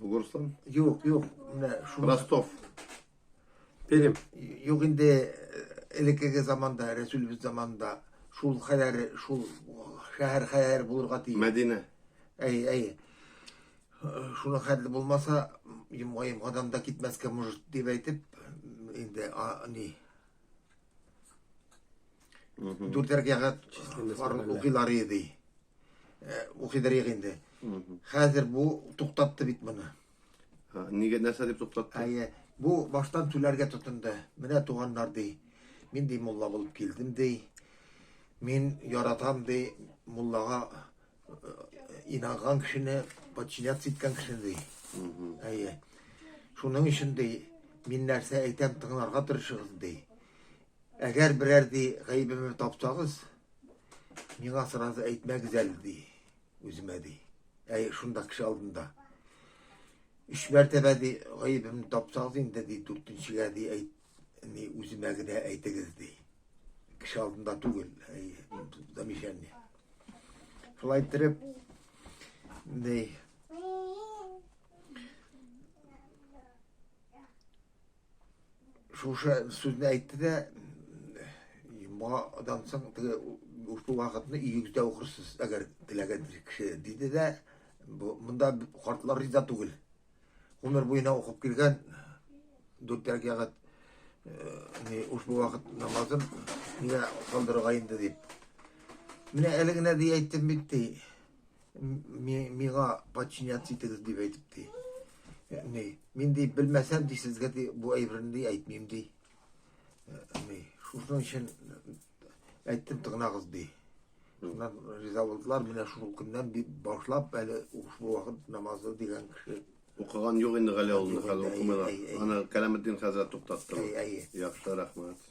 Булырсың. Юк, юк. Менә шуны Ростов. Пермь. Юк инде э, элеккеге заманда, Рәсүлебез заманында шул хәләре, шул шәһәр хәләре булырга тиеш. Мәдинә. Әй, әй. Шуны хәтле булмаса, йомга йомгадан да китмәскә может дип әйтеп, инде а, ни дүртәр кәгать укыйлар иде. э, укыйдыр инде. Хәзер бу туктатты бит моны. Нигә нәрсә дип туктатты? Әйе, бу баштан түләргә тотынды. Менә туганнар ди. Мин ди мулла булып килдем ди. Мин яратам ди муллага э, инанган кешене подчиняться иткән кеше ди. Әйе. Шуның өчен ди мин нәрсә әйтәм тыңларга тырышыгыз ди. Әгәр берәр ди гаебемне тапсагыз, Миңа сразу әйтмәгез әле, ди. Үземә ди. Әй, шунда кеше алдында. Өч мәртәбә ди, гаебемне тапсагыз инде, ди, дүртенчегә ди, әйт, ни, үземә генә әйтегез, ди. Кеше алдында түгел, әй, замечание. Шулай иттереп, ни, Шушы сүзне әйтте дә, моңадан соң теге ушу вакытны өегездә укырсыз, әгәр теләгән кеше, диде дә, монда картлар риза түгел. Гомер буена укып килгән дүрт рәкәгать э, ушу вакыт намазын нигә калдырырга инде дип. Менә әле генә ди әйттем бит ди. ми, миңа подчиняться итегез дип әйтеп ди. Э, ни, мин ди белмәсәм ди сезгә ди бу әйберне ди әйтмим ди. Э, ни, шуның өчен әйттем тыңлагыз ди. Шуннан риза булдылар, менә шул көннән дип башлап әле шул вакыт намазы дигән кеше Укыган юк инде Гали улында хәзер укымыйлар. Ана Кәләметдин хәзрәт туктатты. Яхшы, рәхмәт.